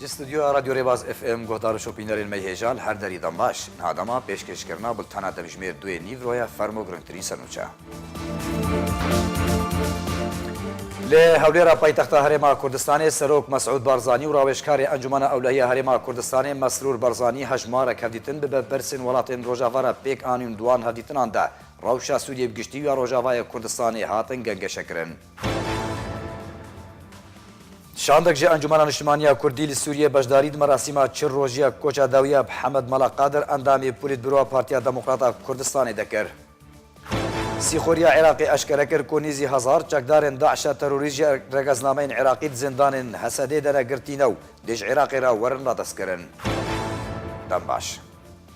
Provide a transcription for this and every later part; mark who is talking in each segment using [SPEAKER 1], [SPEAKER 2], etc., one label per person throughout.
[SPEAKER 1] Ji studyoya Radyo Rêbaz FM guhdar û şopînerên me hêjal her derî dan baş. Niha dema pêşkêşkirina bultena demjimêr duyê Nîvroya fermo girngtirîn senûçe. Li Hewlêra paytexta Herêma Kurdistanê Serok Mesûd Barzanî û rawêjkarê Encûmena Ewlehiya Herêma Kurdistanê Mesrûr Barzanî hejmarek hevdîtin bi berpirsên welatên Rojava re pêk anîn û di wan hevdîtinan de rewşa Sûriyê bi giştî û ya Rojavayê Kurdistanê hatin gengeşekirin. Şandek ji Encûmena Niştimaniya Kurdî li Sûriyê beşdarî di merasîma çil rojiya koça dawî ya Hemed Mala Qadir endamê Polîtbûroa Partiya Demokrat a Kurdistanê de kir. Sîxuriya Iraqê eşkere kir ku nêzî hezar çekdarên DAIŞ'a terorîst ji regeznameyên Iraqî di zindanên Hesedê de ne girtîne û dê ji Iraqê re werin radestkirin. Dem baş.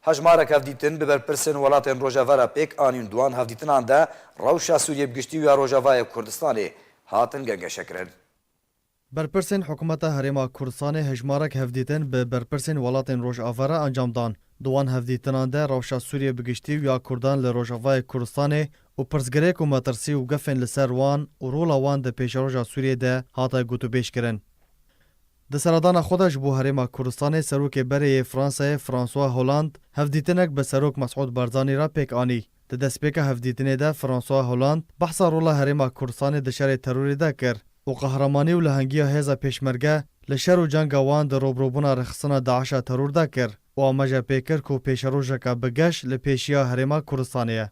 [SPEAKER 1] Hejmarek hevdîtin bi berpirsên welatên rojeve re pêk anîn di wan hevdîtinan de rewşa Sûriyê bi giştî û ya Rojavayê Kurdistanê hatin gengeşekirin. Berpirsên
[SPEAKER 2] Hikûmeta Herêma Kurdistanê hejmarek hevdîtin bi berpirsên welatên rojave re encam dan. Di wan hevdîtinan de rewşa Sûriyê bi giştî û ya Kurdan li Rojavayê Kurdistanê û pirsgirêk û metirsî û gefên li ser wan û rola wan di pêşeroja Sûriyê de hate gotûbêjkirin. Di seredana xwe de ji bo Herêma Kurdistanê Serokê Berê yê Fransayê François Hollande hevdîtinek bi Serok Mesûd Barzanî re pêk anî. Di destpêka hevdîtinê de François Hollande behsa rola Herêma Kurdistanê di şerê terorê de kir û qehremanî û lehengiya hêza Pêşmerge li şer û cenga wan di robrobûna rêxistina DAIŞ'a teror de kir û amaje pê kir ku pêşerojeke bi geş li pêşiya Herêma Kurdistanê ye.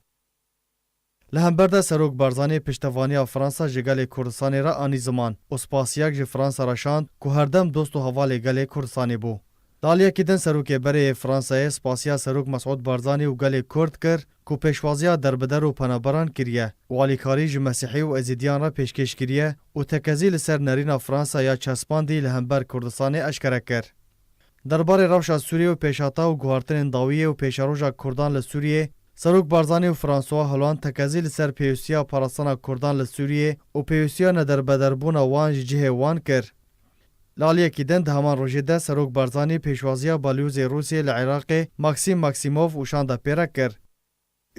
[SPEAKER 2] Li hember de Serok Barzanî piştevaniya Fransa ji gelê Kurdistanê re anî ziman û spasiyek ji Fransa re şand ku herdem dost û hevalê gelê Kurdistanê bû. Di aliyekî din Serokê Berê yê Fransayê spasiya Serok Mesûd Barzanî û gelê Kurd kir ku pêşwaziya derbider û penaberan kiriye û alîkarî ji Mesîhî û Ezîdiyan re pêşkêş kiriye û tekezî li ser nerîna Fransa ya çespandî li hember Kurdistanê eşkere kir. Derbarê rewşa Sûriyê û pêşhata û guhartinên dawiyê û pêşeroja kurdan li Sûriyê, Serok Barzanî û François Hollande tekezî li ser pêwîstiya parastina kurdan li Sûriyê û pêwîstiya nederbederbûna wan ji cihê wan kir. Li aliyekî din di heman rojê de Serok Barzanî pêşwaziya Balyozê Rûsyê li Iraqê Maxim Maximov û şanda pêre kir.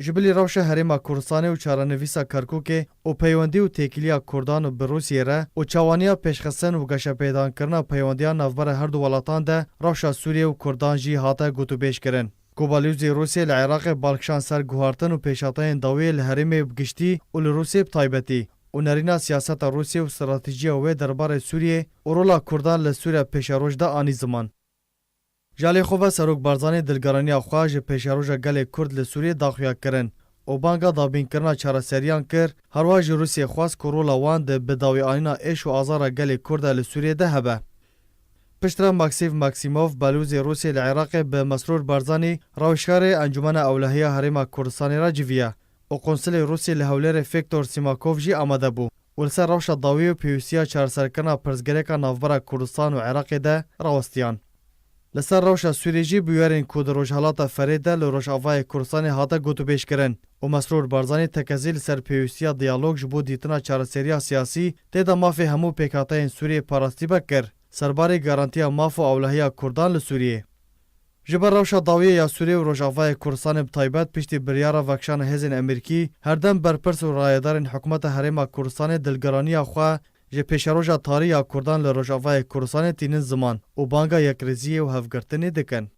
[SPEAKER 2] Ji bilî rewşa Herêma Kurdistanê û çarenivîsa Kerkûkê û peywendî û têkiliya Kurdan bi Rûsyê re û çawaniya pêşxistin û geşepêdankirina peywendiyan navbera her du welatan de rewşa Sûriyê û Kurdan jî hate gotûbêj kirin ku balyozdî Rûsyê li Iraqê bal kişand ser guhartin û pêşhateyên dawiyê li herêmê bi giştî û li Rûsyê bi taybetî û nerîna siyaseta Rûsyê û stratejîya wê derbarê Sûriyê û rola Kurdan li Sûriya pêşeroj de anî ziman. Ji aliyê xwe ve Serok Barzanî dilgeraniya xwe ji pêşeroja gelê Kurd li Sûriyê daxuya kirin û banga dabînkirina çareseriyan kir, herwiha ji Rûsyê xwest ku rola wan di bidawîanîna êş û azara gelê Kurd de li Sûriyê de hebe. Piştre Maksîv Maksîmov, Belûzê Rûsê li Iraqê bi Mesrûr Barzanî, rewişkarê Encûmena Ewlehiya Herêma Kurdistanê re civiya û qonsilê Rûsê li Hewlêrê Fêktor Sîmakov jî amade bû û li ser rewşa dawî û pêwîstiya çareserkirina pirsgirêka navbera Kurdistan û Iraqê de rawestiyan. Li ser rewşa Sûriyê jî bûyerên ku di Rojhilata Ferê de li Rojavayê Kurdistanê hate gotûbêjkirin û Mesrûr Barzanî tekezî li ser pêwîstiya diyalog ji bo dîtina çareseriya siyasî tê de mafê hemû pêkhateyên Sûriyê parastîbek kir ser barê garantiya maf û ewlehiya Kurdan li Sûriyê. Ji ber rewşa dawiyê ya Sûriyê û Rojavayê Kurdistanê bi taybet piştî biryara vekişana hêzên Emerîkî, herdem berpirs û rayedarên hikûmeta Herêma Kurdistanê dilgiraniya xwe, Ji pêşeroja tarî ya Kurdan li Rojavayê Kurdistanê tînin ziman û banga yekrêziyê û hevgirtinê dikin.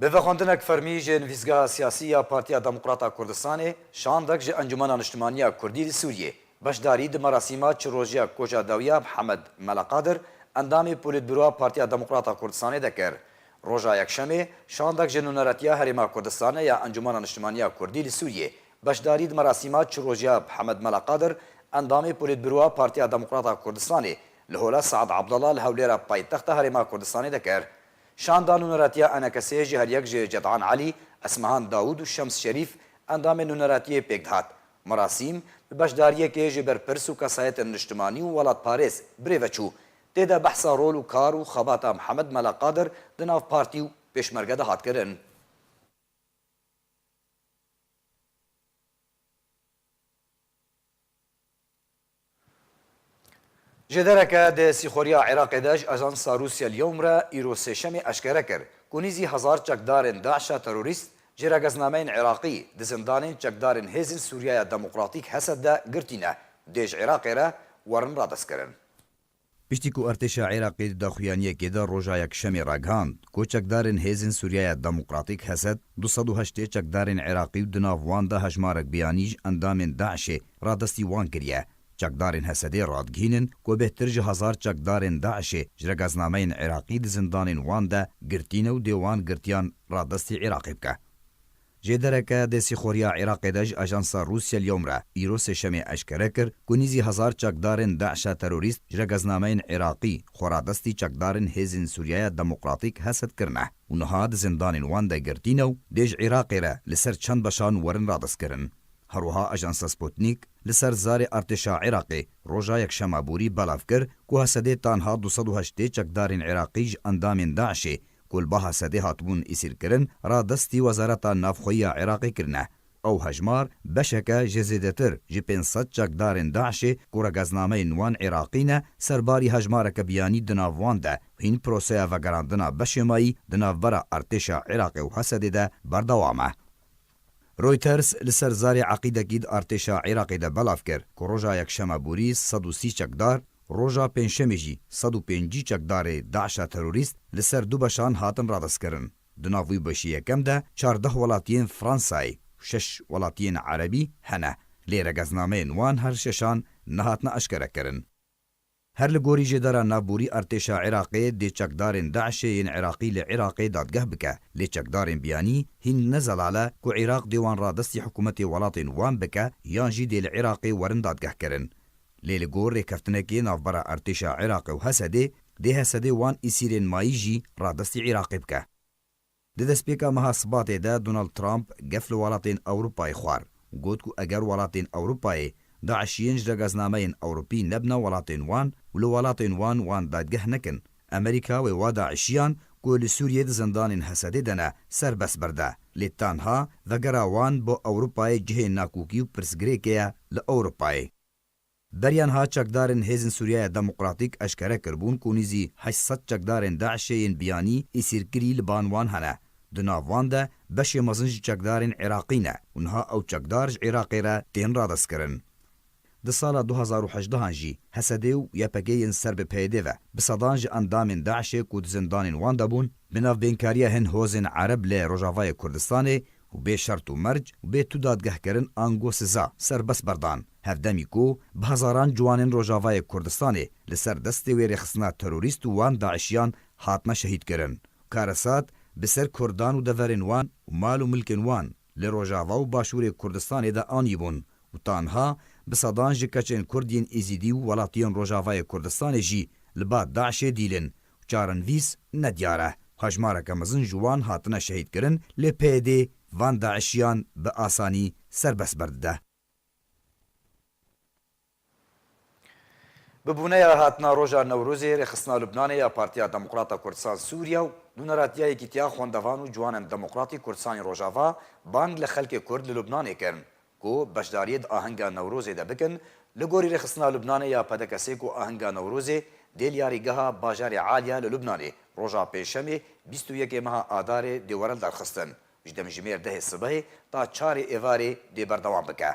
[SPEAKER 1] Bi vê xwendinek fermî ji Nivîsgeha Siyasî ya Partiya Demokrat a Kurdistanê şandek ji Encûmena Niştimaniya Kurdî li Sûriyê beşdarî di merasîma çilrojiya Koja Dawiya Mihemed Mela Qadir endamê Polîtbûroa Partiya Demokrat a Kurdistanê de kir. Roja Yekşemê şandek ji Nûneretiya Herêma Kurdistanê ya Encûmena Niştimaniya Kurdî li Sûriyê Beşdarî di merasîma çirojya bi Hemed Mela Qadir, endamê Polîtbûroa Partiya Demokrat a Kurdistanê li Hola Sead Abdallah li Hewlêra paytexta Herêma Kurdistanê de kir. Şanda nûneratiya enekesê ji heryek ji Cedan Elî, Esmehan Dawûd û Şems Şerîf endamên nûneratiyê pêk dihat. Merasîm bi beşdariyekê ji berpirs û kesayetên niştimanî û welatparêz birê ve çû. Tê de behsa rol û kar û xebata Hemed Mela Qadir di nav partî û Pêşmerge de hat kirin. Ji dereke di sîxuriya Iraqê de ji ajansa Rûsya Lyowm re îro sêşemê eşkere kir ku nîzî hezar çekdarên DAIŞ'a terorîst ji rageznnameyên Iraqî di zindanên çekdarên Hêzên Sûriyaya Demokratîk, Hesed, de girtîne dê ji Iraqê re werin radestkirin. Piştî ku Artêşa Iraqê di daxuyaniyekê de roja Yekşemê ragihand ku çekdarên Hêzên Sûriyaya Demokratîk, Hesed, du sed û heştê çekdarên Iraqî û di nav wan de hejmarek biyanî ji endamên DAIŞ'ê radestî wan kiriye. Çekdarên Hesedê radigihînin ku bêhtir ji hezar çekdarên DAIŞ'ê ji regaznameyên Iraqî di zindanên wan de girtîne û dê wan girtiyan radestî Iraqê bike. Jê dereke dê sîxoriya Iraqê de ji ajansa Rûs Yelyom re îro sêşemê eşkere kir ku nîzî hezar çekdarên DAIŞ'a terorîst ji regeznameyên Iraqî xwe radestî çekdarên Hêzên Sûriyaya Demokratîk heset kirine û niha di zindanên wan de girtîne û dê ji Iraqê re li ser çend beşan werin radestkirin. Herwiha ajansa Sputnik li ser zarê artêşa Iraqê roja Yekşema borî belav kir ku Hesedê tanha du sed û heştê çekdarên Iraqî ji endamên DAIŞ'ê ku li baha sedê hatibûn îsîrkirin, radestî Wezareta Navxweyî ya Iraqê kirine. Ew hejmar beşeke ji zêdetir ji pênc sed çekdarên DAIŞ'ê ku regeznameyên wan Iraqî ne, ser barî hejmareke biyanî di nav wan de hîn proseya vegerandina beşêmayî di navbera artêşa Iraqê û Hesedê de berdewam e. Reuters li ser zarê eqîdekî di artêşa Iraqê de belav kir ku roja Yekşema borî sed û sî çekdar, roja Pêncşemê jî sed û pêncî çekdarê DAIŞ'a terorîst li ser du beşan hatin radestkirin. Di nav wî beşê yekem de çardeh welatiyên Fransayê û şeş welatiyên Erebî hene, lê regeznameyên wan her şeşan nehatine eşkerekirin. Her li gorî jêdara navborî artêşa Iraqê dê çekdarên DAIŞ'ê yên Iraqî li Iraqê dadgeh bike, lê çekdarên biyanî hîn ne zelal e ku Iraq dê wan radestî hikûmetê welatên wan bike yan jî dê li Iraqê werin dadgehkirin. Lê li gor rêkeftinekê navbera artêşa Iraqê û Hesedê, dê Hesedê wan îsîrên mayî jî radestî Iraqê bike. Di destpêka meha Sibatê de Donald Trump gef li welatên Ewropayê xwar, got ku eger welatên Ewropayê DAIŞ'iyên ji regeznameyên Ewropî nebna welatên wan û li welatên wan wan dadgeh nekin, Amerîka wê wa DAIŞ'iyan ku li Sûriyê di zindanên Hesedê de ne, serbest berde. Lê tenha vegera wan bo Ewropayê cihê nakokî û pirsgirêkê ye li Ewropayê. Beriyan ha çekdarên Hêzên Sûriyaya Demokratîk eşkere kiribûn ku nîzî heşt sed çekdarên DAIŞê yên biyanî îsîrkirî li ban wan hene. Di nav wan de beşê mezin ji çekdarên Iraqî ne û niha ew çekdar ji Iraqê re tên radestkirin. Di sala du hezar û hejdeh an jî Hesedê û YPG yên ser bi PYDê ve bi sedan ji endamên DAIŞê ku di zindanên wan de bûn, bi navbênkariya hin hozên ereb lê Rojavayê Kurdistanê û bê şert û merc û bê tu dadgehkirin ango siza, serbest berdan, hevdemî ku bi hezaran ciwanên Rojavayê Kurdistanê li ser destê wê rêxistina terorîst û wan daişiyan hatine şehîdkirin, karesat bi ser kurdan û deverên wan û mal û milkên wan li Rojava û Başûrê Kurdistanê de anîbûn û tanha bi sedan ji keçên kurd yên Êzîdî û welatiyên Rojavayê Kurdistanê jî li ba daişê dîlin Çarenvîs ne diyar e. Hejmareke mezin ji wan hatine şehîdkirin lê PYD van DAIŞiyan bi asanî serbest berdide. Bi bûneya hatina roja Newrozê, Rêxistina Lubnanê ya Partiya Demokrata Kurdistan Sûriya û nûneratiyayekî tiya xwendevan û ciwanen demokratî Kurdistanê Rojava bang li xelkê Kurd li Lubnanê kirin ku beşdariyê di ahenga Newrozê de bikin, li gorî rêxistina Lubnanê ya PDKS'ê ku ahenga Newrozê dê li yarîgeha bajarê Alya li Lubnanê roja pêncşemê bîst û yekê meha Adarê dê were lidarxistin ji demjimêr dehê sibehê ta çarê êvarê dê berdewam bike.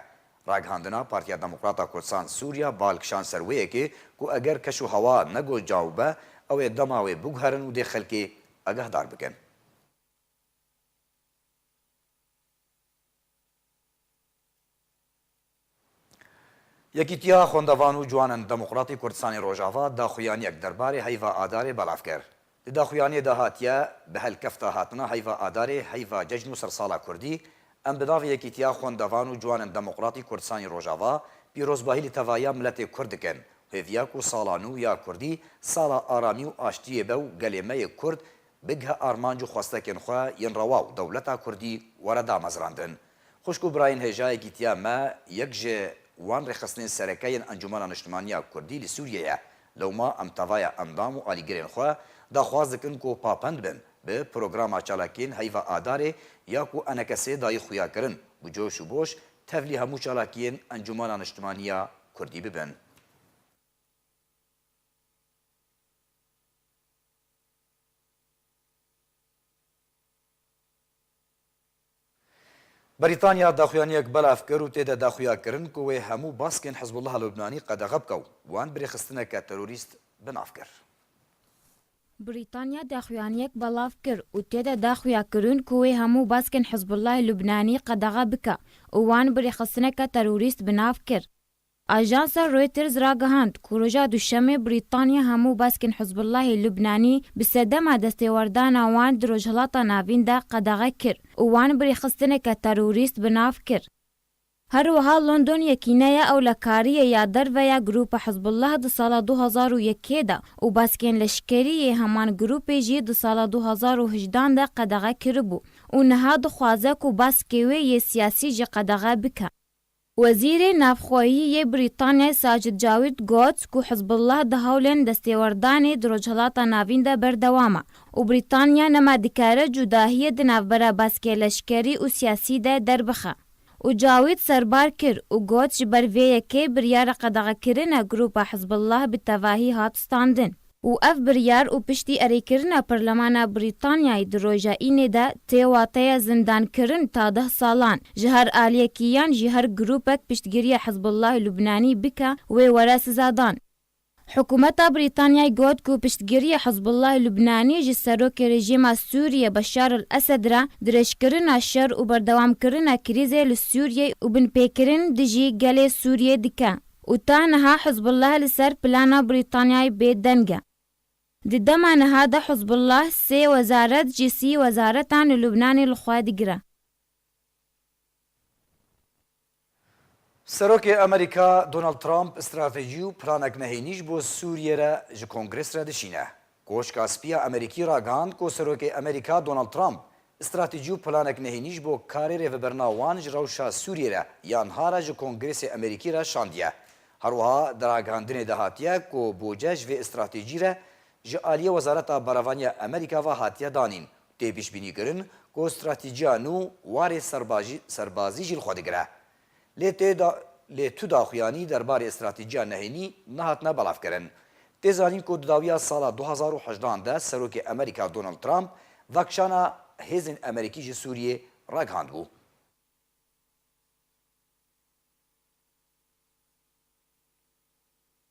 [SPEAKER 1] Ragihandina Partiya Demokrata Kurdisan Sûriya bal kişand ser wê yekê ku eger keş û hewa ne ku caw be ew ê dema wê biguherin û dê xelkê agehdar bikin. Yekîtiya Xwendevan û Ciwanan Demokratî Kurdistanê Rojava daxuyaniyek derbarê heyva adarê belav kir. Di daxuyaniyê de hatiye bi helkefta hatina heyva adarê heyva cejn û sersala kurdî em bi navê Yekîtiya Xwendevan û Ciwanan Demokratî Kurdistanê Rojava pîrozbahî li tevaya miletê kurd dikin û hêviya ku sala nû ya kurdî sala aramî û aştiyê be û gelê me yê kurd Bigihe armanc û xwestekên xwe yên rewa û dewleta Kurdî were damezrandin. Xwişk û birayên hêjayê gîtiya me yek ji wan rêxistinên sereke yên Encûmena Niştimaniya Kurdî li Sûriyê ye. Lewma em tevaya endam û alîgirên xwe daxwaz dikin ku papend bin bi programa çalakiyên heyva Adarê ya ku Enekesê dayî xuya kirin bi coş û boş tevlî hemû çalakiyên Encûmena Niştimaniya Kurdî bibin. Brîtanya daxuyaniyek belav kir û tê de daxuya kirin ku wê hemû baskên Hizbullah a Lubnanî qedexe bike û wan birêxistineke terorîst bi nav kir. Brîtanya
[SPEAKER 3] daxuyaniyek belav kir û tê de daxuya kirin ku wê hemû baskên Hizbullah a Lubnanî qedexe bike û wan birêxistineke terorîst bi nav kir. Ajansa Reuters ragihand ku roja Duşemê Brîtanya hemû baskên Hizbullahê Lubnanî bi sedema destêwerdana wan di Rojhilata Navîn de qedexe kir û wan bi rêxistineke terorîst bi nav kir. Her wiha London yekîneya ewlekariyê ya derve ya grûpa Hizbullah di sala du hezar û yekê de û baskên leşkerî yê heman grûpê jî di sala du hezar û hejdan de qedexe kiribû û niha dixwaze ku baskê wê yê siyasî jî qedexe bike. Wezîrê Navxweyî yê Brîtanyayê Sajid Javid got ku Hizbullah di hewlên destêwerdanê di Rojhilata Navîn de berdewam e û Brîtanya nema dikare cudahiyê di navbera baskê leşkerî û siyasî de derbixe û Javid serbar kir û got ji ber vê yekê biryara qedexekirinê grûpa Hizbullah bi tevahî hat standin. û ev biryar û piştî erêkirina Parlemana Brîtanyayê di roja Înê de tê wateya zindankirin ta deh salan ji her aliyekî yan jî her grûpek piştgiriya Hizbullahê Lubnanî bike wê were sizadan. Hikûmeta Brîtanyayê got ku piştgiriya Hizbullahê Lubnanî ji serokê rejîma Sûriyê Beşar El Esed re dirêjkirina şer û berdewamkirina krîzê li Sûriyê û binpêkirin dijî gelê Sûriyê dike. û ta niha Hizbullah li ser plana Brîtanyayê bê deng e. Di dema niha de Hizbullah sê wezaret ji sî wezaretan li Lubnanê li xwe digire.
[SPEAKER 1] Serokê Amerîka Donald Trump stratejî û planek nehênî ji bo Sûriyê re ji Kongres re dişîne. Koşka Spî ya Amerîkî ragihand ku Serokê Amerîka Donald Trump stratejî û planek nehênî ji bo karê rêvebirina wan ji rewşa Sûriyê re ya niha re ji Kongresê Amerîkî re şandiye. Her wiha di ragihandinê de hatiye ku bûce ji vê stratejî re ji aliyê Wezareta Berevanî ya Amerîka ve hatiye danîn û tê pişbînîkirin ku stratejîya nû warê serbazî jî li xwe digire. lê tê da lê tu daxuyanî derbarê stratîjiya nehênî nehatine belavkirin. Tê zanîn ku di dawiya sala du hezar û hejdan de Serokê Amerîka Donald Trump vekişana hêzên Amerîkî ji Sûriyê ragihandibû.